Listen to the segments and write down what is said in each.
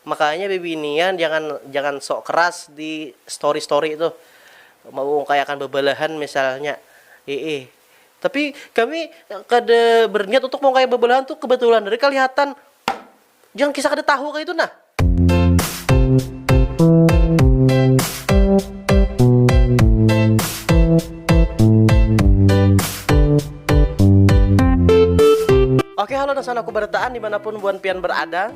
Makanya bibinian jangan jangan sok keras di story story tuh mengungkayakan bebelahan misalnya iih tapi kami kada berniat untuk mengungkaya bebelahan tuh kebetulan dari kelihatan jangan kisah kada tahu kaya itu nah. Oke halo dasanaku barataan dimanapun buan pian berada.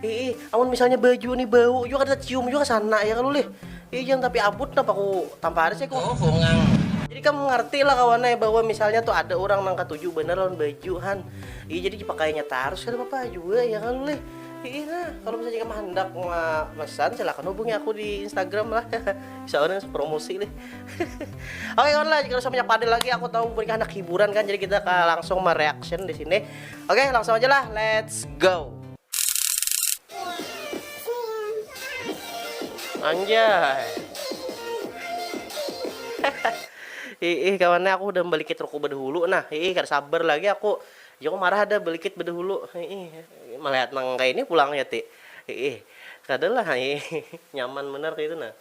Ih, amun misalnya baju nih bau juga kada cium juga sana ya kalau lih. Ih, jangan tapi abut napa ku tampar sih ku. Oh, bungang. Jadi kamu ngerti lah kawan eh bahwa misalnya tuh ada orang nang katuju bener lawan baju han. Ih, jadi dipakainya tarus kada apa-apa juga ya kalau lih. Ih, nah, kalau misalnya kamu handak mesan silakan hubungi aku di Instagram lah. Soalnya promosi lih. Oke kawan lah, jika usah banyak padel lagi aku tahu mereka anak hiburan kan jadi kita langsung mereaction di sini. Oke, okay, langsung aja lah. Let's go. Anjay. Ih, kawannya aku udah balik ke ruko bedahulu nah. Ih, kada sabar lagi aku. Ya aku marah ada balik ke bedahulu. Ih, melihat nang kayak ini pulang ya, Ti. Ih, kada lah. Ih, nyaman bener kayak itu nah.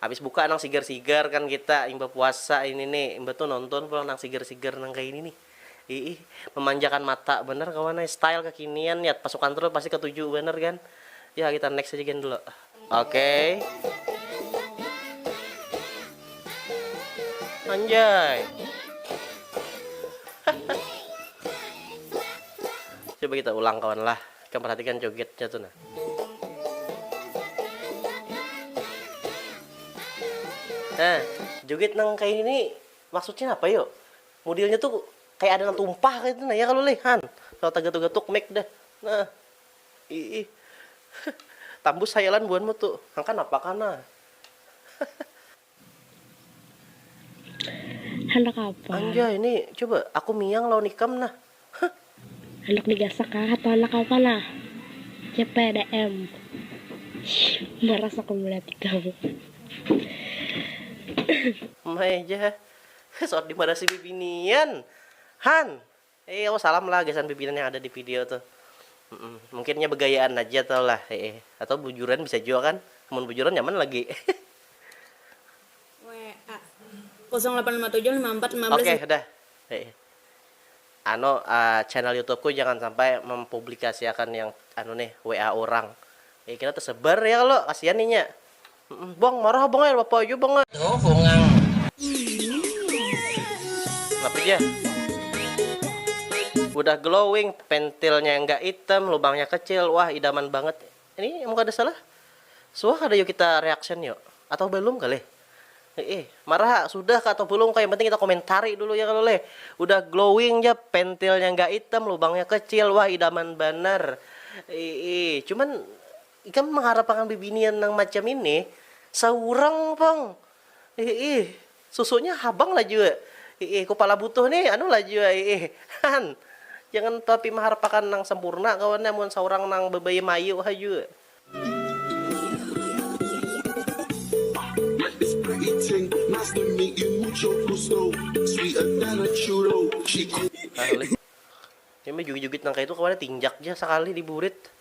Habis buka nang sigar-sigar kan kita imbah puasa ini ni, imbah tu nonton pulang nang sigar-sigar nang kaini nih. Iih, memanjakan mata banar kawan ai, style kekinian ya, pasukan terus pasti ketuju banar kan. Ya kita next aja gin dulu. Okey. Anjay. Coba kita ulang kawan lah. Ikam perhatikan jogetnya tu nah. Nah, joget nang kaya ini nih maksudnya napa yo? Mudilnya tu kaya ada nang tumpah kaytu nah ya kalo lih han. Kalo tagatuk-gatuk mic dah. Nah. Iih. Tambus hayalan buhanmu tu. Nang kanapa kah nah. Handak apa? Anjay, ni coba aku miang lawan ikam nah. Huh. Handak digasak kah atau handak apa nah? CPDM. Maras aku melihat ikam. Mai ja. Sot dimarasi bibinian. Han, Heeew salam lah gasan pimpinan yang ada di video tuh humm mungkin nya begayaan haja tau lah heeh atau bujuran bisa jua kan amun bujuran nyaman lagi WA kosong lapan lima tujuh lima ampat lima belas oke dah heeh anu channel youtube ku jangan sampai mempublikasiakan yang anu nih WA urang eh kita tersebar ya kalo kasian nih nya. Bang marah abang ai apa jua bang ai. Tuh bungang. Kenapa ja? Udah glowing, pentilnya yang gak item, lubangnya kecil, wah idaman banget. Ini emang kada salah? Suah kada yuk kita reaction yuk? Atau belum kali? Eh, marah sudah kah atau belum kah? Yang penting kita komentari dulu ya kalau leh. Udah glowing ja, pentilnya gak item, lubangnya kecil, wah idaman banar. Eh, cuman Ikam maharap akan bibinian nang macam ini saurang pang hiih, susunya habang lah jua hiih, kupala butuh nih anu lah jua hiih han, jangan tapi maharap akan nang sampurna kawannya amun saurang nang babaya mayu ha jua. Nah ulih, imbah jugit-jugit nang kaya itu kawannya tinjak ja sakali di burit.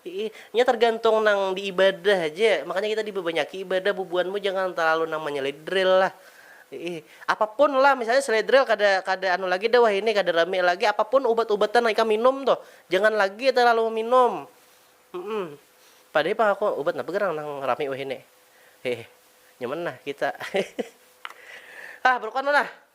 Iih, nya tergantung nang di ibadah haja, makanya kita dibabanyaki ibadah bubuhan mu jangan terlalu nang manyeledrel lah. Iih, apapun lah misalnya seledrel kada kada anu lagi dah wahini kada rami lagi, apapun ubat ubatan nang ikam minum tuh jangan lagi terlalu meminum. Humm, padahi pang aku ubat napa gerang nang rami wahini. Iih, nyaman nah kita. Hah, berukon tu nah.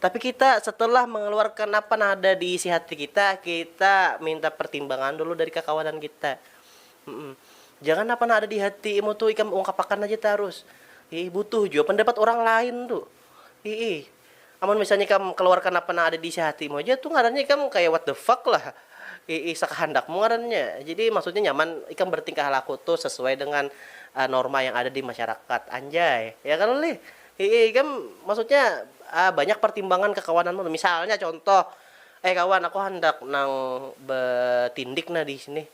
Tapi kita setelah mengeluarkan apa nang ada di isi hati kita, kita minta pertimbangan dulu dari kakawanan kita. Mm-mm. Jangan apa nang ada di hati imu tu ikam ungkapakan aja tarus. Ih, butuh jua pendapat orang lain tu. Ih, amun misalnya ikam keluarkan apa nang ada di isi hatimu aja tu ngarannya ikam kaya what the fuck lah. Ih, sakahandakmu ngarannya. Jadi maksudnya nyaman ikam bertingkah laku tu sesuai dengan norma yang ada di masyarakat. Anjay. Ya kalo lih? Hihi ikam maksudnya banyak partimbangan kakawananmu. Misalnya contoh, eh kawan aku handak nang batindik nah disini,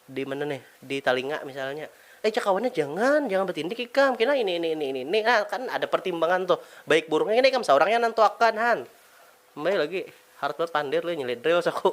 dimana nih, di talinga misalnya. Eh jar kawannya jangan, jangan batindik ikam, kena ini ini ini ini. Nah kan ada partimbangan tuh, baik buruknya kena ikam saurang yang nantuakan han. Mbahnya lagi harat banar pandir leh nyelidriw asa aku.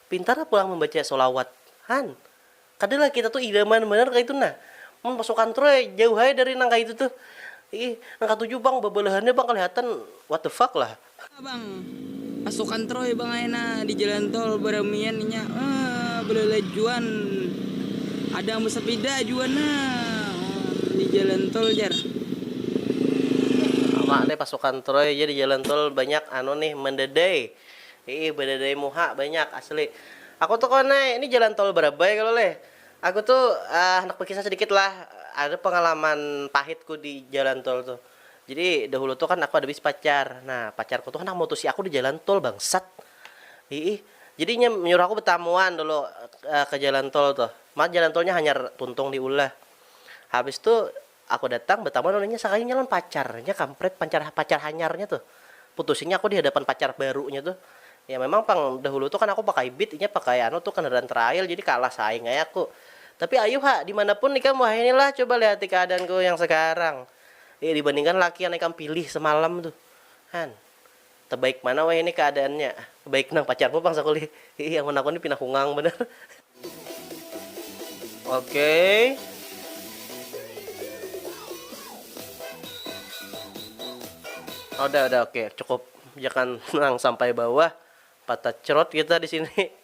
Pintar pulang mambaca sholawat. Han. Kada lah kita tuh idaman banar kaitu nah. Mun pasukan troy ai jauh ai dari nang kaitu tuh. Ih, nang katuju pang babalahannya pang kalihatan what the fuck lah. Haa pang. Pasukan troy pang ai nah di jalan tol baramian inya. Haa balalajuan. Ada nang basapida jua nah di jalan tol jar. Sama leh pasukan troy ja di jalan tol banyak anu nih mandadai. Iih badadai muha banyak asli. Aku tuh kawan ai, ini jalan tol barabai kalo leh. Aku tuh handak bakisah sedikit lah, ada pengalaman pahit ku di jalan tol tuh. Jadi dahulu tuh kan aku ada bisi pacar, nah pacar ku tuh handak mutusi aku di jalan tol bangsat. Iih, jadi inya menyuruh aku betamuan dulu ke jalan tol tuh. Mah jalan tolnya hanyar tuntung di ulah. Habis tuh Aku datang batamu lawan inya sakalinya lawan pacarnya kampret pancar pacar hanyarnya tuh putusinya aku dihadapan pacar barunya tuh ya memang pang dahulu tuh kan aku pakai beat inya pakai anu tuh kendaraan trail jadi kalah saing ai aku tapi ayuh ha dimanapun ikam wahini lah coba lihati keadaanku yang sekarang dibandingkan laki yang ikam pilih semalam tuh han. Tabaik mana wahini kaadaannya? Baik nang, pacarmu pang sakulih. Hiih amun aku ni pina hungang banar. Okey. Udah udah okey cukup jangan nang sampai bawah patah crot kita disini.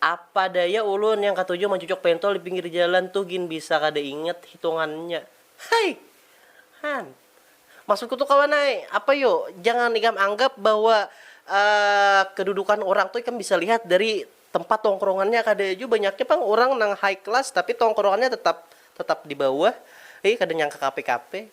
Apa daya ulun yang katuju mancucuk pentol di pinggir jalan tuh gin bisa kada ingat hitungannya. Hai! Han. Maksudku tuh kawan ai, apa yu, jangan ikam anggap bahwa kedudukan urang tuh ikam bisa lihat dari tempat tongkrongannya. Kada jua banyaknya pang urang nang high class tapi tongkrongannya tetap tetap di bawah. Hi, kada nyangka kape-kape.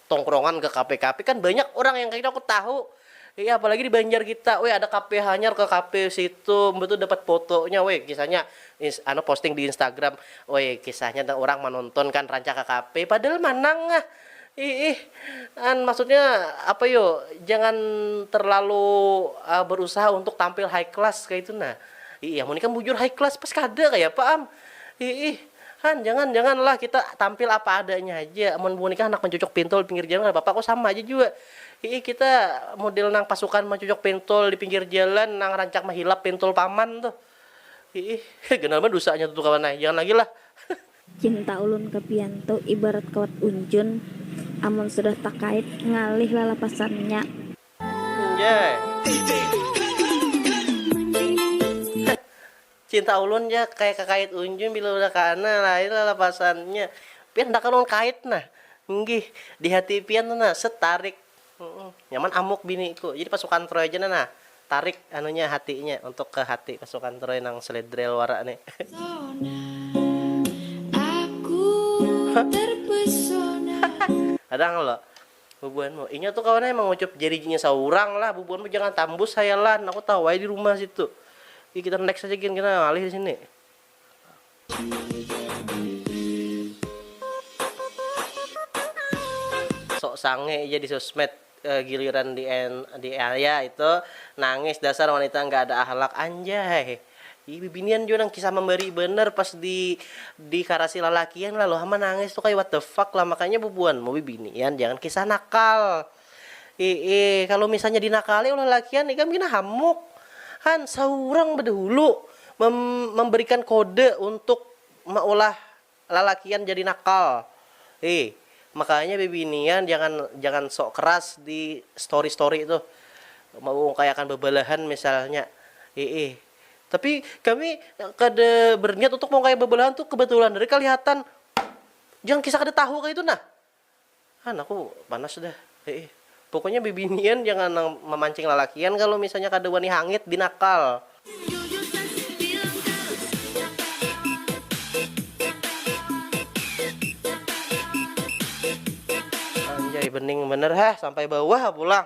tongkrongan ke kape kape kan banyak orang yang kaya gitu aku tahu iya apalagi di banjar kita weh ada kape hanyar ke kape situ mbah tu dapat fotonya weh kisahnya ins anu posting di instagram weh kisahnya dah orang manonton kan rancak ke kape padahal manang ngah iih an maksudnya apa yo jangan terlalu ah berusaha untuk tampil high class kaya itu nah iih amun ikam bujur high class pas kada kaya apa am iih. Han, jangan, jangan lah kita tampil apa adanya haja. Amun buhan ikam handak mancucuk pintul di pinggir jalan kada papa ko, sama haja jua. Hiih, kita model nang pasukan mancucuk pintul di pinggir jalan nang rancak mahilap pintul paman tuh. Hiih, ganal banar dusanya tuh kawan ai, jangan lagi lah. Cinta ulun ka pian tu ibarat kawat unjun, amun sudah takait ngalih lalapasannya. Anjay. Cinta ulun ja kaya kakait unjun bila udah kaana lain lalapasannya. Pian dah karuan kait nah. Nggih. Di hati pian tu nah. Set tarik. Nyaman amuk biniku. Jadi pasukan troy ja nah. Tarik anunya hatinya untuk ke hati pasukan troy nang sledrel wara nih. Kadang lo. Bubuhan mu, inya tu kawan ai mangucup jarijinya saurang lah, bubuhan mu jangan tambus hayalan, aku tahu ai dirumah situ. Gin kita next aja gin, kita ngalih disini. Sok sange ja di sosmed, giliran di ya itu nangis dasar wanita nggak ada akhlak anjay. Ih bibinian jua nang kisah mambari banar pas di di karasi lalakian lalu ha manangis tu kaya what the fuck lah makanya bubuhan mu bibinian jangan kisah nakal iih kalu misalnya dinakali oleh lalakian ikam gin hamuk han saurang badahulu mem memberikan kode untuk maulah Lalakian jadi nakal. Hi, makanya bibinian jangan jangan sok keras di story story tuh. Meungkayakan bebelahan misalnya. Hiih. Tapi kami kada berniat untuk meungkaya bebelahan tuh kebetulan dari kelihatan yang kisah kada tahu kaya itu nah. An aku panas dah eih. Pokoknya bibinian jangan nang mamancing lalakian kalu misalnya kada wani hangit binakal. Anjay bening banar ha sampai bawah pulang.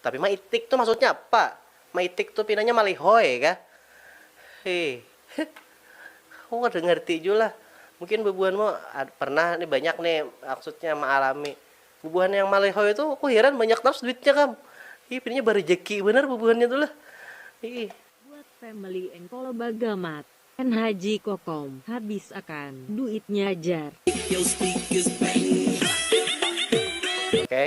Tapi maitik tu maksudnya apa? Maitik tu pinanya malihoi kah? Hih. Aku kada ngarti jua lah. Mungkin bubuhanmu pernah nih banyak nih maksudnya maalami. Bubuhan yang malihoi tu aku hiran banyak tarus duitnya kam. Hih pinanya barajaki banar bubuhannya tu lah. Hih. Buat family and kalo bagamat and haji kokom habis akan duitnya jar. Oke.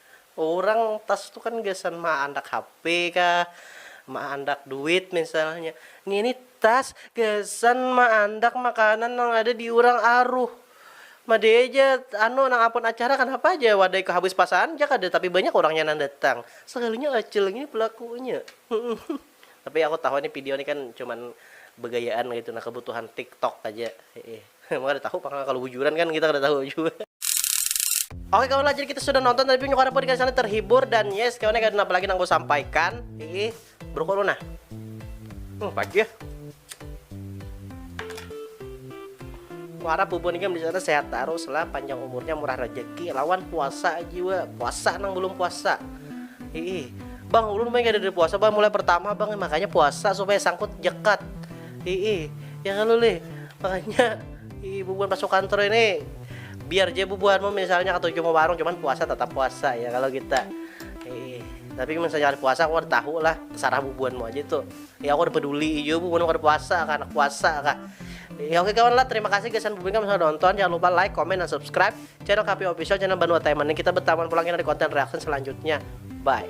Urang tas tu kan gasan maandak HP kah, maandak duit misalnya. Ngini tas gasan maandak makanan nang ada di urang aruh. Madai ja anu nang apun acara kanapa ja wadai ko habis pasaan ja kada tapi banyak urangnya nang datang. Sagalinya Acil ngini pelakunya. Tapi aku tahu ini pidio ni kan cuman begayaan kaitu nah kebutuhan tiktok aja heeh emang kada tahu pang kalu bujuran kan kita kada tahu jua. Oke kawan lah jadi kita sudah nonton tadi punya karena podcast sana terhibur dan yes kawan kada ada apa lagi nang ku sampaikan heeh berukun nah hmm pagi ya. Kuharap bubun ikam di sana sehat tarus lah, panjang umurnya, murah rejeki, lawan puasa jiwa, puasa nang belum puasa. Hiih, bang ulun mah kada ada puasa bang mulai pertama bang makanya puasa supaya sangkut jekat. Hiih, ya kalau lih makanya hiih bubuhan pasukan tro ini biar je bubuhanmu misalnya ketuju mau warung cuman puasa tetap puasa ya kalau kita. Hiih, tapi misalnya ada puasa aku ada tahu lah, terserah bubuhanmu aja tuh. Ya aku kada peduli jua bu mun kada puasa kah, anak puasa kah. Ya oke kawan lah, terima kasih gasan bubing kami sudah nonton. Jangan lupa like, comment, dan subscribe channel KP Official, channel Banua Taiman ini. Kita bertaman pulang di konten reaction selanjutnya. Bye.